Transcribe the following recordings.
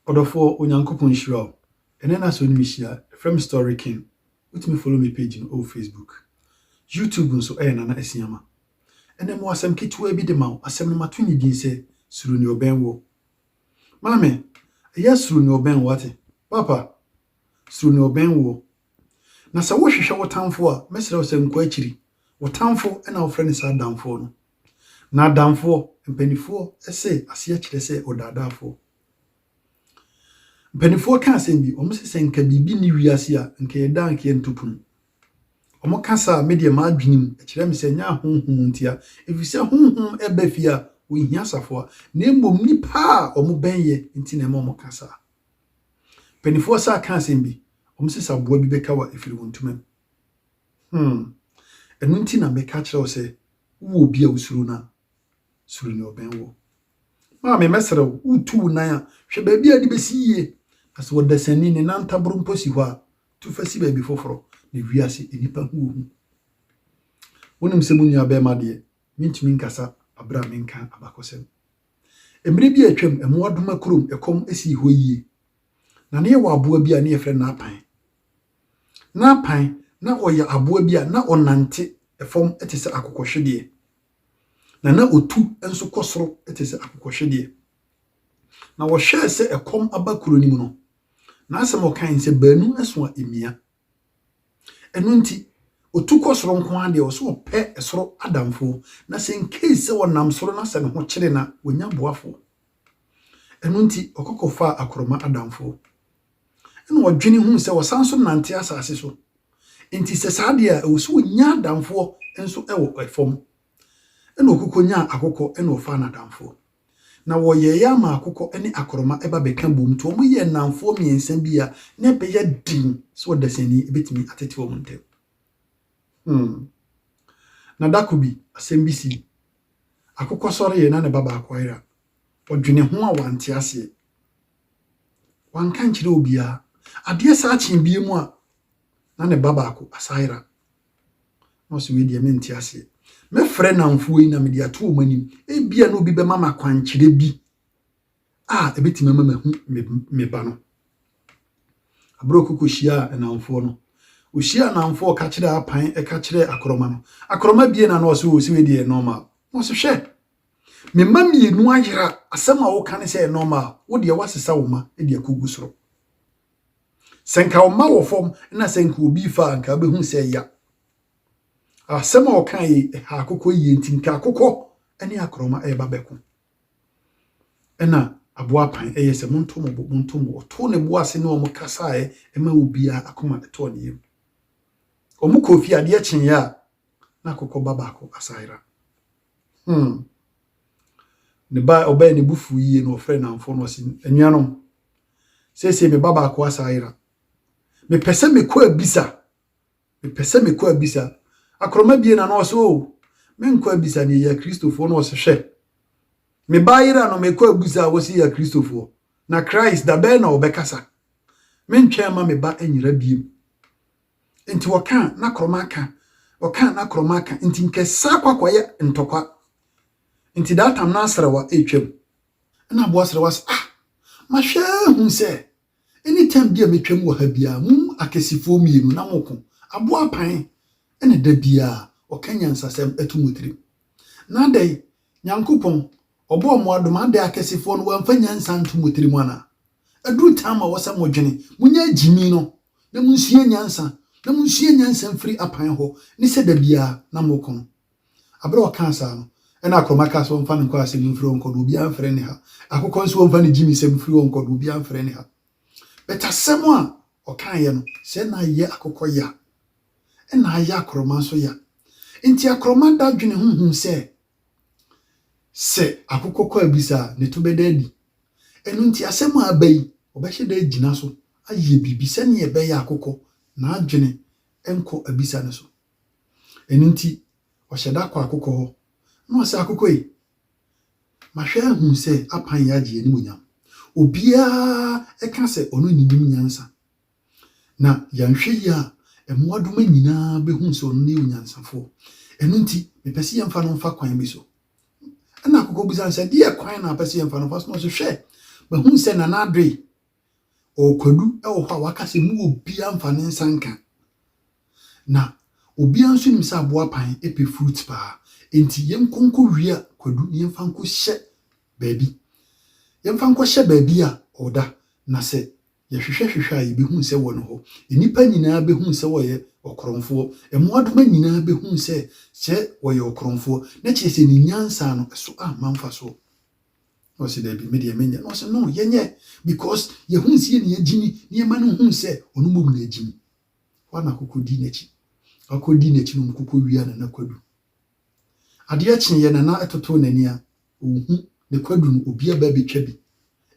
Ɔdɔfoɔ Onyankopɔn nhyira wo. Ɛnɛ na sɛ wo ne me hyia frɛ me Story King. Wotumi follow me page no ɛwɔ Facebook. YouTube nso ɛyɛ Nana Asiama. Ɛnɛ mewɔ asɛm ketewaa bi de ma wo. Asɛm no mato ne din sɛ Suro Nea Ɔbɛn Woɔ. Maame, ɛyɛ suro nea ɔbɛn wo, wate? Papa, suro nea ɔbɛn woɔ. Na sɛ wohwehwɛ wo tamfo a, mɛsrɛ wo sɛ nkɔ akyiri. Wo tamfo na wofrɛ no saa adamfoɔ no. Na adamfoɔ, mpanimfoɔ se aseɛ kyerɛ sɛ ɔdaadaafoɔ. Mpanimfoɔ ka asɛm bi, wɔn se sɛ nka biribi nni wiase a, nka yɛda a nka yɛnto pono. Wɔn ka saa a, me deɛ m'adwene mu ɛkyerɛ me sɛ nyɛ ahonhom ntia, ɛfiri sɛ honhom ɛba fie a, wɔnhia safoa, na mmom nnipa a wɔn bɛnyɛ nti na ɛma wɔka saa. Mpaninfoɔ saa ka asɛm bi, wɔn se sɛ aboa bi bɛka wo a ɛfiri wo ntoma mu. Hmm. Ɛno nti na meka kyerɛ wo sɛ wowɔ obi a wosuro no a, suro nea ɔbɛn woɔ. Maame, mɛsrɛ wo, woretu wo nan a, hwɛ baabi a de bɛsi yie. Na sɛ ɔdasani, ne nan ntaboro mpo si hɔ a, tu fa si baabi foforɔ. Na wiase, nnipa hu wo hu. Wonim sɛ mo nuabarima deɛ, mentumi nkasa berɛ a menka abakɔsɛm. Mmere bi a atwam, Mmoadoma kurom kɔm sii hɔ yiye. Na na yɛwɔ aboa bi a na yɛfrɛ no Naapan. Naapan, na ɔyɛ aboa bi a na ɔnante fam te sɛ akokɔhwedeɛ, na na ɔtu nso kɔ soro te sɛ akokɔhwedeɛ. Na wɔhwɛɛ sɛ ɛkɔm aba kuro no mu no, n'asɛm a ɔkae sɛ, Baanu so a ɛmia. Ɛno nti, otu kɔ soro nko ara deɛ, ɔwɔ sɛ ɔpɛ soro adamfoɔ. Na sɛ in case sɛ ɔnam soro na sɛ ne ho kyere no a, ɔnya boafoɔ. Ɛno nti, ɔkɔ kɔfaa akorɔma adamfoɔ. Ɛna ɔdwene hu sɛ ɔsan so nante asase so. Nti sɛ saa deɛ a, ɛwɔ sɛ ɔnya adamfoɔ nso wɔ fam. Ɛna ɔkokɔ nyaa akokɔ ɛna ɔfaa no adamfoɔ. Na wɔyɛeɛ ama akokɔ ne akorɔma ba bɛka boom nti wɔyɛɛ nnamfoɔ mmiɛnsa bi a na ɛbɛyɛ den sɛ ɔdasani bɛtumi atete wɔn ntam. Hmm. Na da ko bi, asɛm bi sii. Akokɔ sɔreeɛ na ne ba baako ayera. Ɔdwene ho a wante aseɛ. Wanka nkyerɛ obiara. Adeɛ saa kyee bie mu a na ne ba baako asa ayera. na ɔsɛ wei deɛ mente aseɛ mɛfrɛ namfoɔ yi na mede ato wɔn anim ebia na obi bɛma ma kwankyerɛ bi a ɛbɛtumi ama mahu me ba no aberɛ ɔkoko hyiaa namfoɔ no ɔhyia namfoɔ ɔka kyerɛ apan ɛka kyerɛ akorɔma no akorɔma bie na na ɔsɛ wɔ sɛ wei deɛ normal na ɔsɛ hwɛ me mma mmienu ayera asɛm a woka ne sɛ normal wo deɛ woasesa wo ma de akɔgu soro sɛ nka wo mma wɔ fam na sɛ nka obi fa a nka wobɛhu sɛ ɛya asɛm a ɔka yi ɛha akokɔ yie nti nka akokɔ ne akorɔma ɛreba bɛko ɛna aboa pan ɛyɛ sɛ monto mo bo monto mo ɔto ne bo ase ne wɔn kasaeɛ ɛma obiara akoma ɛtɔɔ ne yam wɔn kɔ fie adeɛ kyeeɛ a na akokɔ ba baako asayera hmm ne ba ɔbɛn ne bufu yie na ɔfrɛ nanfo no ɔsi anuanom Seesei me ba baako asan ayera. Mepɛ sɛ mekɔ abisa. Mepɛ sɛ mekɔ abisa. Akorɔma bie na na ɔsɛ o, menkɔ abisa deɛ yɛ Kristofoɔ na ɔsɛ hwɛ. Me ba ayera no mekɔ abisa a wɔsi yɛ Kristofoɔ. Na Christ da bɛn na ɔbɛkasa? Mentwɛn ma me ba anyera biem. Nti ɔka a na korɔma aka. Ɔka a na korɔma aka. Nti nkɛsa akɔ akɔyɛ ntɔkwa. Nti that time na asrawa ɛretwam. Ɛna aboa srɛ wa sɛ ah mahwɛ ahu sɛ any time bi a metwam wɔ ha biara mo akɛsifoɔ mmienu na mo ko aboa pan ɛna da biara ɔka nyansasɛm ɛto mo tirim na adɛn nyankopɔn ɔbɔɔ mo adom adɛn akɛsifoɔ no wamfa nyansa nto mo tirim anaa ɛduru time a wɔsɛ mo dwene mo nya gyimi no na mo nsua nyansa na mo nsua nyansa mfiri apan hɔ ne sɛ da biara na mo ko no Bere a ɔkaa saa no, ɛnna akorɔma kaa sɛ, Wɔmfa no nkɔ asɛnni mfiri hɔ nkɔ na obiara mfrɛ no ha. Akokɔ nso, wɔmfa ne gyimisɛm mfiri hɔ nkɔ na obiara mfrɛ no ha. But asɛm a ɔkaeɛ no, sɛ na ayɛ akokɔ ya, ɛnna ayɛ akorɔma nso ya. Enti akorɔma da dwene ho huu sɛ, sɛ akokɔ kɔ abisa a, ne to bɛda adi. Ɛno nti asɛm a aba yi, ɔbɛhyɛ da agyina so ayɛ biribi sɛnea ɛbɛyɛ akokɔ n'adwene nkɔ abisa no so. Ɛno nti, ɔhyɛ da kɔ akokɔ hɔ, na ɔse, Akokɔ ei, mahwɛ ahu sɛ apan yi agye animuonyam. Obiara ka sɛ ɔno na ɛnim nyansa. Na yɛanhwɛ yie a, mmoadoma nyinaa bɛhunu sɛ ɔno ne yɛ onyansafoɔ. Ɛno nti, mepɛ sɛ yɛmfa no mfa kwan bi so. Ɛna akokɔ bisa no sɛ, Ɛdeɛ kwan na apɛ sɛ yɛmfa no fa so? Na ɔse, Hwɛ, mahunu sɛ Nana Adoe Ɔrekwadu wɔ hɔ a waka sɛ mu obiara mfa ne nsa nka. Na obiara nso nim sɛ aboapan pɛ fruit paa. Enti yɛnkɔ nkɔwia kwadu na yɛmfa nkɔhyɛ baabi. Yɛmfa nkɔhyɛ baabi a ɔda. Na sɛ yɛhwehwɛhwehwɛ a, yɛbɛhu sɛ ɔwɔ hɔ. Nnipa nyinaa bɛhu sɛ ɔyɛ ɔkorɔmfoɔ. Mmoadoma nyinaa bɛhu sɛ sɛ ɔyɛ ɔkorɔmfoɔ, na kyerɛ sɛ ne nyansa no, ɛso amma mfasoɔ. Na ɔse dabi me deɛ menyɛ na ɔse no yɛnyɛ because yɛhu nseɛ ne agyimi ne yɛma no hu sɛ ɔno mmom na agyimi hɔ na kɔkɔ di n'akyi akɔ di n'akyi no kɔkɔ wia nana kwadu adeɛ kye yɛ nana ɛtoto n'ani a ɔhu ne kwadu no obi aba bɛtwa bi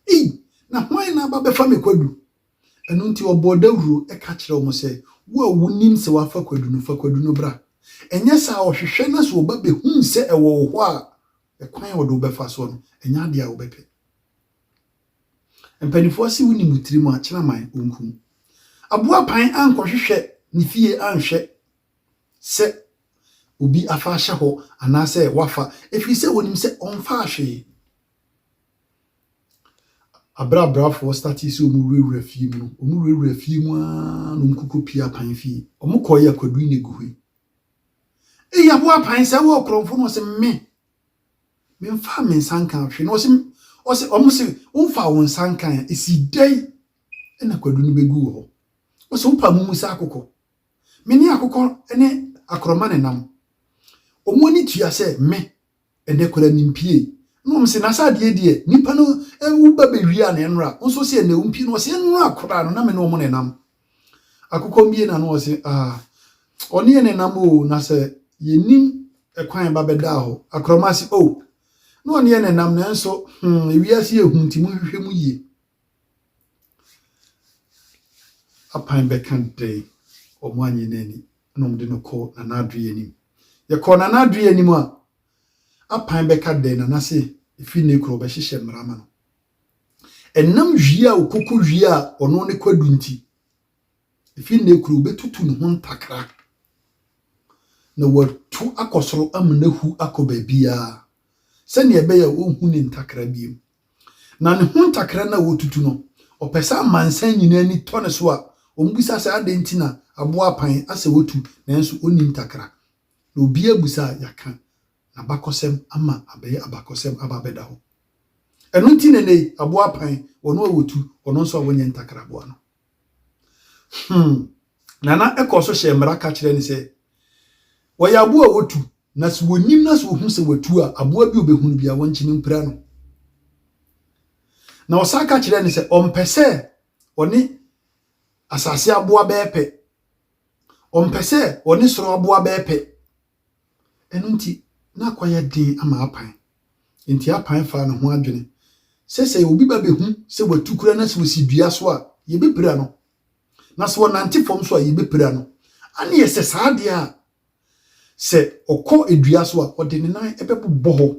ei na hwan na aba bɛfa me kwadu ɛno nti ɔbɔ dawuro ɛka kyerɛ wɔn sɛ wo a wonim sɛ wafa kwadu no fa kwadu no bra ɛnyɛ saa ɔhwehwɛ na sɛ ɔba bɛhu sɛ ɛwɔ wo hɔ a Ɛkwan a wɔde wo bɛfa soɔ no, ɛnyɛ adeɛ a wo bɛpɛ. Mpaninfoɔ se wo nim wo tiri mu a, kyerɛ man ɔnkum. Aboa pan ankɔhwehwɛ ne fie anhwɛ sɛ obi afa ahyɛ hɔ anaasɛ wafa, ɛfiri sɛ ɔnim sɛ ɔmfaa hwee. Aberɛ abrafoɔ statee sɛ wɔn wurawura fie mu no, wɔn wurawura fie mu ara na wɔn kɔkɔ pie apan fie. Wɔn kɔɔ yɛ kwaduine guhui. Eya bo apan sɛ wɔ korɔmfo no ɔse me me nfa me nsa nka hwe no ɔse ɔse ɔmo se wo nfa wo nsa nka ya esi dɛn ɛna kwadu no begu wɔ hɔ ɔse wo pa mo mu sɛ akokɔ me ne akokɔ ne akorɔma ne nam ɔmo ani tua sɛ me Ɛnɛ koraa nim pie na wɔn se nasa adeɛ deɛ nipa no wo ba bɛwie a na ɛnora wo nso se ɛnɛ wo mpie na wɔse ɛnora koraa no na me ne wɔn na ɛnam akokɔ mbie na no wɔse ah ɔne yɛ na ɛnam o na sɛ yɛnim ɛkwan ba bɛdaa hɔ akorɔma se oh na ɔne yɛ na ɛnam nanso hmm ewiase yɛ hu nti mo hwehwɛ mu yie. Apan bɛka dɛn? Wɔannye no anni, ɛnna wɔde no kɔɔ Nana Adoe anim. Yɛkɔɔ Nana Adoe anim a, Apan bɛka dɛn? Nana se, Ɛfiri nnɛ kura wɔbɛhyehyɛ mmara ama no. Ɛnam wie a ɔkɔkɔ wie a ɔno ne Kwadu nti, ɛfiri nnɛ kura wɔbɛtutu ne ho ntakra na wɔatu akɔ soro ama no ahu akɔ baabiara sɛnea ɛbɛyɛ a wɔnhu ne ntakra bio. Na ne ho ntakra no a wotutu no, ɔpɛ sɛ amansan nyinaa ani tɔ ne so a wɔbisa sɛ adɛn nti na aboa apan asɛ wotu nanso onni ntakra. Na obiara abu sɛ a yɛaka n'abakɔsɛm ama abɛyɛ abakɔsɛm aba abɛda hɔ. Ɛno nti na ɛnnɛ yi aboa apan, ɔno a wotu, ɔno nso a wonyɛ ntakra boa no. Hmm. Nana kɔɔ so hyɛɛ mmara ka kyerɛɛ no sɛ, Wɔyɛ aboa a wɔtu, na sɛ wɔnim na sɛ wɔhu sɛ wɔatu a, aboa bi ɔbɛhu no bia wɔntumi mpira no. Na ɔsan ka kyerɛɛ no sɛ ɔmpɛ sɛ ɔne asase aboa bɛyɛ pɛ, ɔmpɛ sɛ ɔne soro aboa bɛyɛ pɛ. Ɛno nti, na akɔyɛ den ama Apan. Enti Apan faa ne ho adwene sɛ sɛ obi ba behu sɛ watu kura na sɛ osi dua so a, yebepira no, na sɛ ɔnante fam so a, yebepira no. Ane ɛsɛ saa deɛ a, sɛ ɔkɔ dua so a, ɔde ne nan bɛbobɔ hɔ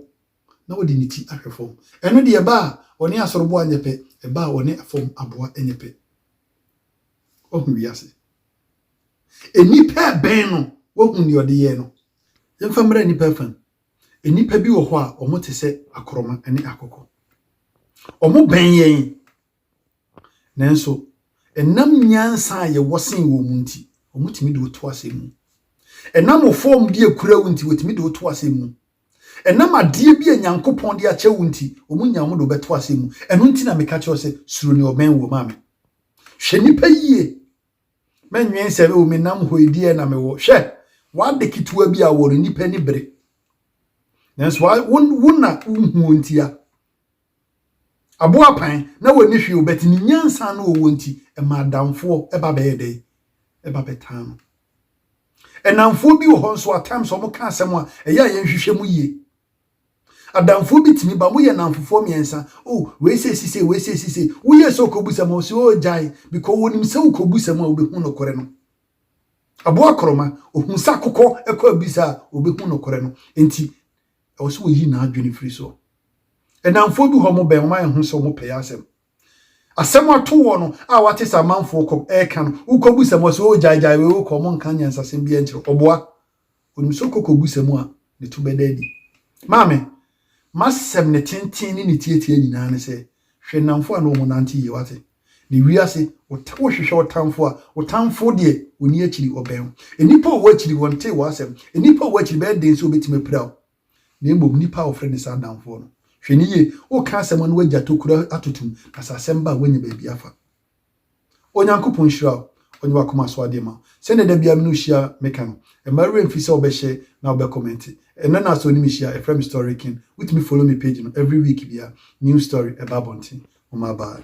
na ɔde ne ti ahwɛ fam. Ɛno deɛ, ɛba a ɔne asoroboa nyɛ pɛ, ɛba a ɔne fam aboa nyɛ pɛ. Wahu wiase. Nnipa bɛn no wahu nea ɔde yɛɛ no? Yɛmfa mmra nnipa fã. Nnipa bi wɔ hɔ a wɔte sɛ akorɔma ne akokɔ. Wɔbɛn yɛn, nanso ɛnam nyansa a yɛwɔ sen wɔn mu nti, wɔtumi de wo to asɛm mu. Ɛnam wo fam de akura wo nti, wɔtumi de wo to asɛm mu. Ɛnam adeɛ bi a Nyankopɔn de akyɛ wo nti, wɔnya wɔn de wɔbɛto asɛm mu. Ɛno nti na meka kyerɛ wo sɛ, suro nea ɔbɛn wo, maame. Hwɛ nnipa yie, Mennwen sɛ, o, menam hɔ yi, deɛ na mewɔ. Hwɛ, w'ade ketewa bi a wɔ no, nnipa ani bere. Nanso wa, wo, wo na wohu ntia. Aboapan, na wɔni hwee o, bɛte ne nyansa no ɔwɔ nti, ɛma adamfoɔ ɛba bɛyɛ dɛn? Ɛba bɛtaa no. Ɛnamfoɔ bi wɔ hɔ nso, at times wɔka asɛm a, ɛyɛ a yɛnhwehwɛ mu yie. Adamfoɔ bi tumi ba, moyɛ nnamfofoɔ mmiɛnsa, oh, wei sei si sei, wei sei si sei. Woyie sɛ wokɔbu sɛm a, ɔse oh, gyae, because wɔnim sɛ wokɔbu sɛm a, wɔbɛhu nokorɛ no. Aboa korɔma, ɔhunu sɛ akokɔ kɔ abisa a, wɔbɛhu nokorɛ no. Enti, ɛwɔ sɛ wɔyi n'adwene firi soɔ. Nnamfoɔ bi hɔ a wɔbɛn, wɔayɛ ho sɛ wɔpɛɛ asɛm. Asɛm ato woɔ no, a woate sɛ amanfoɔ kɔ, ɛreka no, wokɔbu sɛm a, ɔse oh, gyae, gyae wei, wokɔ, wɔnka nyansasɛm biara nkyerɛ wo. Ɔboa. Onim sɛ ɔkɔ kɔbu sɛm a, ne to bɛda adi. Maame, M'asɛm, ne tenten ne ne tiatia nyinaa ne sɛ, hwɛ nnamfo a ne wo ho nante yie, wate? Na wiase, wohwehwɛ ɔtamfo a, wo tamfo deɛ, ɔnni akyiri, ɔbɛn wo. Nnipa a wɔwɔ akyiri, wɔntee w'asɛm. Nnipa a wɔwɔ akyiri, ɛbɛyɛ den sɛ wɔbɛtumi apira wo. Na mmom, nnipa a wɔfrɛ no saa adamfoɔ no. Hwɛ no yie, woreka asɛm a na w'agya tokuro atotom, na sɛ asɛm ba a, woanya baabi afa. Onyankopɔn nhyira wo, ɔnyɛ w'akoma so adeɛ mma wo. Sɛdeɛ da biara me ne wo hyia meka no, mma wo werɛ mfi sɛ wobɛ share na wobɛ comment. Ɛnnɛ na sɛ onim hyia ɛfrɛ me story king, wotumi follow me page no every week biara new story ɛba abɔnten. Moma bye.